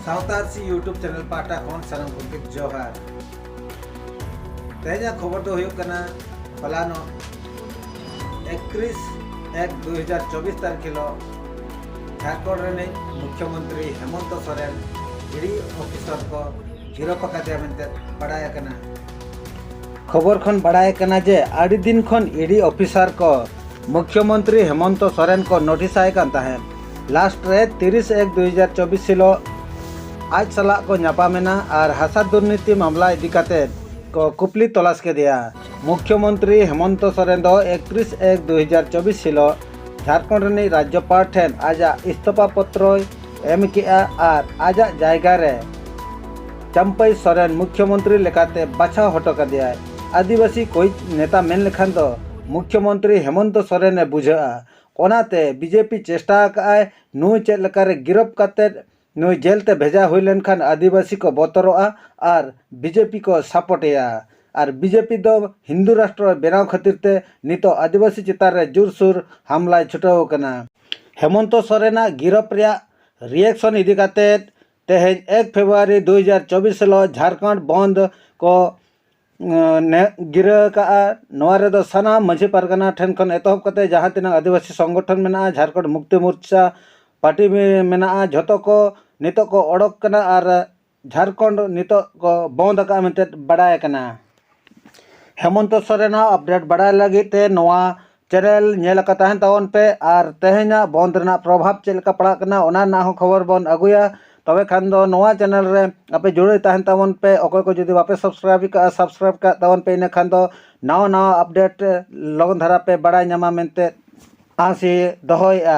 ᱥᱟᱶᱛᱟᱨ ᱥᱤ YouTube channel ᱯᱟᱦᱴᱟ ᱠᱷᱚᱱ ᱥᱟᱱᱟᱢ ᱜᱚᱢᱠᱮ ᱡᱚᱦᱟᱨ ᱛᱮᱦᱮᱧᱟᱜ ᱠᱷᱚᱵᱚᱨ ᱫᱚ ᱦᱩᱭᱩᱜ ᱠᱟᱱᱟ ᱦᱚᱞᱟᱱᱚᱜ ᱮᱠᱛᱨᱤᱥ ᱮᱠ ᱫᱩ ᱦᱟᱡᱟᱨ ᱪᱚᱵᱵᱤᱥ ᱛᱟᱹᱨᱤᱠᱷ ᱦᱤᱞᱳᱜ ᱡᱷᱟᱲᱠᱷᱚᱸᱰ ᱨᱤᱱᱤᱡ ᱢᱩᱠᱷᱭᱚᱢᱚᱱᱛᱨᱤ ᱦᱮᱢᱚᱱᱛ ᱥᱚᱨᱮᱱ ᱤᱰᱤ ᱚᱯᱷᱤᱥᱚᱨ ᱠᱚ ᱜᱤᱨᱚᱯ ᱟᱠᱟᱫᱮᱭᱟ ᱢᱮᱱᱛᱮ ᱵᱟᱰᱟᱭ ᱟᱠᱟᱱᱟ ᱠᱷᱚᱵᱚᱨ ᱠᱷᱚᱱ ᱵᱟᱰᱟᱭ ᱟᱠᱟᱱᱟ ᱡᱮ ᱟᱹᱰᱤ ᱫᱤᱱ ᱠᱷᱚᱱ ᱤᱰᱤ ᱚᱯᱷᱤᱥᱚᱨ ᱠᱚ ᱢᱩᱠᱷᱭᱚᱢᱚᱱᱛᱨᱤ ᱦᱮᱢᱚᱱᱛᱚ ᱥᱚᱨᱮᱱ ᱠᱚ ᱱᱳᱴᱤᱥ ᱟᱭ ᱠᱟᱱ ᱛᱟᱦᱮᱸᱫ ᱞᱟᱥᱴ ᱨᱮ ᱛᱤᱨᱤᱥ ᱮᱠ ᱫᱩ ᱦᱟᱡᱟᱨ ᱪᱚᱵᱵᱤᱥ ᱦᱤᱞᱳᱜ ᱟᱡ ᱥᱟᱞᱟᱜ ᱠᱚ ᱧᱟᱯᱟᱢ ᱮᱱᱟ ᱟᱨ ᱦᱟᱥᱟ ᱫᱩᱨᱱᱤᱛᱤ ᱢᱟᱢᱞᱟ ᱤᱫᱤ ᱠᱟᱛᱮ ᱠᱚ ᱠᱩᱯᱞᱤ ᱛᱚᱞᱟᱥ ᱠᱮᱫᱮᱭᱟ ᱢᱩᱠᱷᱭᱚᱢᱚᱱᱛᱨᱤ ᱦᱮᱢᱚᱱᱛᱚ ᱥᱚᱨᱮᱱ ᱫᱚ ᱮᱠᱛᱨᱤᱥ ᱮᱠ ᱫᱩ ᱦᱟᱡᱟᱨ ᱪᱚᱵᱵᱤᱥ ᱦᱤᱞᱳᱜ ᱡᱷᱟᱨᱠᱷᱚᱸᱰ ᱨᱤᱱᱤᱡ ᱨᱟᱡᱽᱭᱚᱯᱟᱲ ᱴᱷᱮᱱ ᱟᱡᱟᱜ ᱤᱥᱛᱚᱯᱷᱟ ᱯᱚᱛᱨᱚᱭ ᱮᱢ ᱠᱮᱫᱼᱟ ᱟᱨ ᱟᱡᱟᱜ ᱡᱟᱭᱜᱟ ᱨᱮ ᱪᱟᱢᱯᱟᱭ ᱥᱚᱨᱮᱱ ᱢᱩᱠᱷᱭᱚᱢᱚᱱᱛᱨᱤ ᱞᱮᱠᱟᱛᱮ ᱵᱟᱪᱷᱟᱣ ᱦᱚᱴᱚ ᱠᱟᱫᱮᱭᱟᱭ ᱟᱹᱫᱤᱵᱟᱹᱥᱤ ᱠᱚᱭᱤᱡ ᱱᱮᱛᱟ ᱢᱮᱱ ᱞᱮᱠᱷᱟᱱ ᱫᱚ ᱢᱩᱠᱷᱭᱚᱢᱚᱱᱛᱨᱤ ᱦᱮᱢᱚᱱᱛ ᱥᱚᱨᱮᱱᱮ ᱵᱩᱡᱷᱟᱹᱜᱼᱟ ᱚᱱᱟᱛᱮ ᱵᱤᱡᱮᱯᱤ ᱪᱮᱥᱴᱟ ᱟᱠᱟᱫᱼᱟᱭ ᱱᱩᱭ ᱪᱮᱫ ᱞᱮᱠᱟᱨᱮ ᱜᱤᱨᱚᱯ ᱠᱟᱛᱮᱫ ᱱᱩᱭ ᱡᱮᱞ ᱛᱮ ᱵᱷᱮᱡᱟ ᱦᱩᱭ ᱞᱮᱱᱠᱷᱟᱱ ᱟᱹᱫᱤᱵᱟᱹᱥᱤ ᱠᱚ ᱵᱚᱛᱚᱨᱚᱜᱼᱟ ᱟᱨ ᱵᱤᱡᱮᱯᱤ ᱠᱚ ᱥᱟᱯᱚᱴᱮᱭᱟ ᱟᱨ ᱵᱤᱡᱮᱯᱤ ᱫᱚ ᱦᱤᱱᱫᱩ ᱨᱟᱥᱴᱨᱚ ᱵᱮᱱᱟᱣ ᱠᱷᱟᱹᱛᱤᱨ ᱛᱮ ᱱᱤᱛᱚᱜ ᱟᱹᱫᱤᱵᱟᱹᱥᱤ ᱪᱮᱛᱟᱱ ᱨᱮ ᱡᱩᱨᱥᱩᱨ ᱦᱟᱢᱞᱟᱭ ᱪᱷᱩᱴᱟᱹᱣ ᱟᱠᱟᱱᱟ᱾ ᱦᱮᱢᱚᱱᱛᱚ ᱥᱚᱨᱮᱱ ᱟᱜ ᱜᱤᱨᱚᱯ ᱨᱮᱭᱟᱜ ᱨᱤᱭᱮᱠᱥᱚᱱ ᱤᱫᱤ ᱠᱟᱛᱮ ᱛᱮᱦᱮᱧ ᱮᱠ ᱯᱷᱮᱵᱽᱨᱩᱣᱟᱨᱤ ᱫᱩ ᱦᱟᱡᱟᱨ ᱪᱚᱵᱽᱵᱤᱥ ᱦᱤᱞᱚᱜ ᱡᱷᱟᱨᱠᱷᱚᱸᱰ ᱵᱚᱸᱫᱽ ᱠᱚ ᱜᱤᱨᱟᱹ ᱟᱠᱟᱫᱼᱟ᱾ ᱱᱚᱣᱟ ᱨᱮᱫᱚ ᱥᱟᱱᱟᱢ ᱢᱟᱹᱡᱷᱤ ᱯᱟᱨᱜᱟᱱᱟ ᱴᱷᱮᱱ ᱠᱷᱚᱱ ᱮᱛᱚᱦᱚᱵ ᱠᱟᱛᱮ ᱡᱟᱦᱟᱸ ᱛᱤᱱᱟᱹᱜ ᱟᱹᱫᱤᱵᱟᱹᱥᱤ ᱥᱚᱝᱜᱚᱴᱷᱚᱱ ᱢᱮᱱᱟᱜᱼᱟ, ᱡᱷᱟᱨᱠᱷᱚᱸᱰ ᱢᱩᱠᱛᱤ ᱢᱳᱨᱪᱟ ᱯᱟᱨᱴᱤ ᱢᱮᱱᱟᱜᱼᱟ, ᱡᱷᱚᱛᱚ ᱠᱚ ᱱᱤᱛᱚᱜ ᱠᱚ ᱚᱰᱚᱠ ᱟᱠᱟᱱᱟ ᱟᱨ ᱡᱷᱟᱨᱠᱷᱚᱸᱰ ᱱᱤᱛᱚᱜ ᱠᱚ ᱵᱚᱸᱫᱽ ᱟᱠᱟᱫᱼᱟ ᱢᱮᱱᱛᱮ ᱵᱟᱰᱟᱭ ᱟᱠᱟᱱᱟ ᱦᱮᱢᱚᱱᱛᱚ ᱥᱚᱨᱮᱱᱟᱜ ᱟᱯᱰᱮᱴ ᱵᱟᱰᱟᱭ ᱞᱟᱹᱜᱤᱫ ᱛᱮ ᱱᱚᱣᱟ ᱪᱮᱱᱮᱞ ᱧᱮᱞ ᱟᱠᱟᱫ ᱛᱟᱦᱮᱱ ᱛᱟᱵᱚᱱ ᱯᱮ ᱟᱨ ᱛᱮᱦᱮᱧᱟᱜ ᱵᱚᱸᱫᱽ ᱨᱮᱱᱟᱜ ᱯᱨᱚᱵᱷᱟᱵᱽ ᱪᱮᱫ ᱞᱮᱠᱟ ᱯᱟᱲᱟᱜ ᱠᱟᱱᱟ ᱚᱱᱟ ᱨᱮᱱᱟᱜ ᱦᱚᱸ ᱠᱷᱚᱵᱚᱨ ᱵᱚᱱ ᱟᱹᱜᱩᱭᱟ ᱛᱚᱵᱮ ᱠᱷᱟᱱ ᱫᱚ ᱱᱚᱣᱟ ᱪᱮᱱᱮᱞ ᱨᱮ ᱟᱯᱮ ᱡᱩᱲᱟᱹᱣ ᱛᱟᱦᱮᱱ ᱛᱟᱵᱚᱱ ᱯᱮ ᱚᱠᱚᱭ ᱠᱚ ᱡᱩᱫᱤ ᱵᱟᱯᱮ ᱥᱟᱵᱥᱠᱨᱟᱭᱤᱵᱽ ᱟᱠᱟᱫᱼᱟ ᱥᱟᱵᱥᱠᱨᱟᱭᱤᱵᱽ ᱠᱟᱜ ᱛᱟᱵᱚᱱ ᱯᱮ ᱤᱱᱟᱹ ᱠᱷᱟᱱ ᱫᱚ ᱱᱟᱣᱟ ᱱᱟᱣᱟ ᱟᱯᱰᱮᱴ ᱞᱚᱜᱚᱱ ᱫᱷᱟᱨᱟ ᱯᱮ ᱵᱟᱲᱟᱭ ᱧᱟᱢᱟ ᱢᱮᱱᱛᱮ ᱟᱥ ᱤᱧ ᱫᱚᱦᱚᱭᱮᱫᱼᱟ